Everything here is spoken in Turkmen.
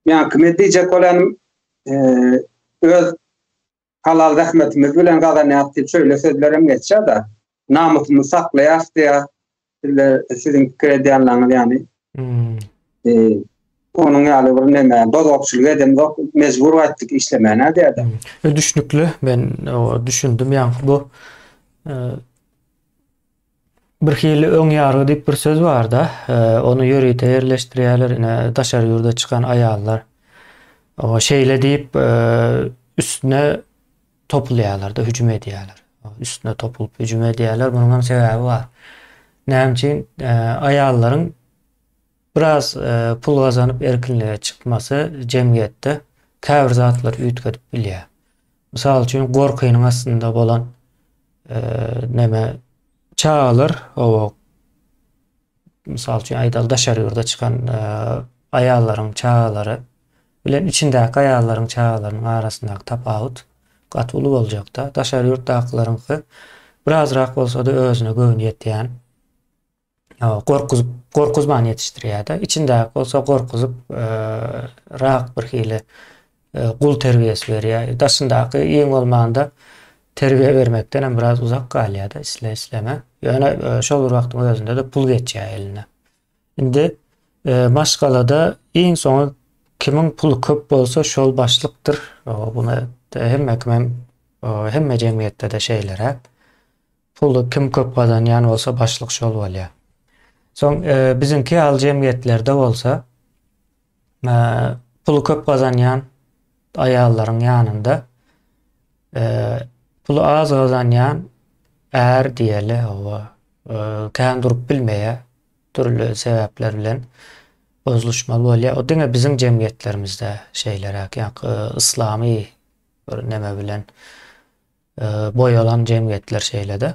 Ýa kime diýjek bolan öz halal zähmetimiz bilen gazanýarys diýip şöyle sözler hem geçýär da. Namysymy saklaýar diýär. Sizler siziň pikir edýänleriňiz ýaly. Hmm. E, onuň ýaly bir näme bozgakçylyk edemzok, mejbur gaýtdyk işlemäne diýär-de. Hmm. Düşünikli, men düşündim ýaňky bu e, Bir hili öň ýargy diýip bir söz barda, e, ony ýörite ýerleşdirýärler, ine daşary ýurda çykan aýallar. O şeýle diýip e, üstüne topulýarlar-da, hüjüm edýärler. Üstüne topulyp hüjüm edýärler. Munuň hem sebäbi bar. Näme üçin e, aýallaryň Biraz pul gazanyp erkinlige çykmasy jemgyýetde käbir zatlary üýtgedip bilýär. Mysal üçin gorkynyň astynda bolan neme çagalar oba mysal üçin aýdaly daşary ýurda çykan aýallaryň çagalary bilen içindäki aýallaryň çagalarynyň arasyndaky tapawut gaty uly boljakda. Daşary ýurtdakylaryňky birazrak bolsada özüne göwni ýetýän. gorkuzyp gorkuzman ýetişdirýärdi. Içindäki bolsa gorkuzyp e, rak bir hili e, gul terbiýesi berýär. Daşyndaky iň bolmanda terbiýe bermekden hem biraz uzak galýar-da, isle isleme. Ýöne e, şol bir wagtyň özünde de pul geçýär eline. Indi e, maşgalada iň soňy kimiň puly köp bolsa şol başlykdyr. Buna hemme kim hem hemme jemgyýetde-de şeýleräk. Puly kim köp gazanýan bolsa başlyk şol bolýa. Soň biziňki ýaly jemgyýetlerde bolsa puly köp gazanýan aýallaryň ýanynda puly az gazanýan är diýeli hawa kän durup bilmeýä dürli sebäpler bilen bozluşmaly bolýa o diňe biziň jemgyýetlerimizde şeýleräk ýa yslamy Bir neme bilen boýalan jemgyýetler şeýle-de.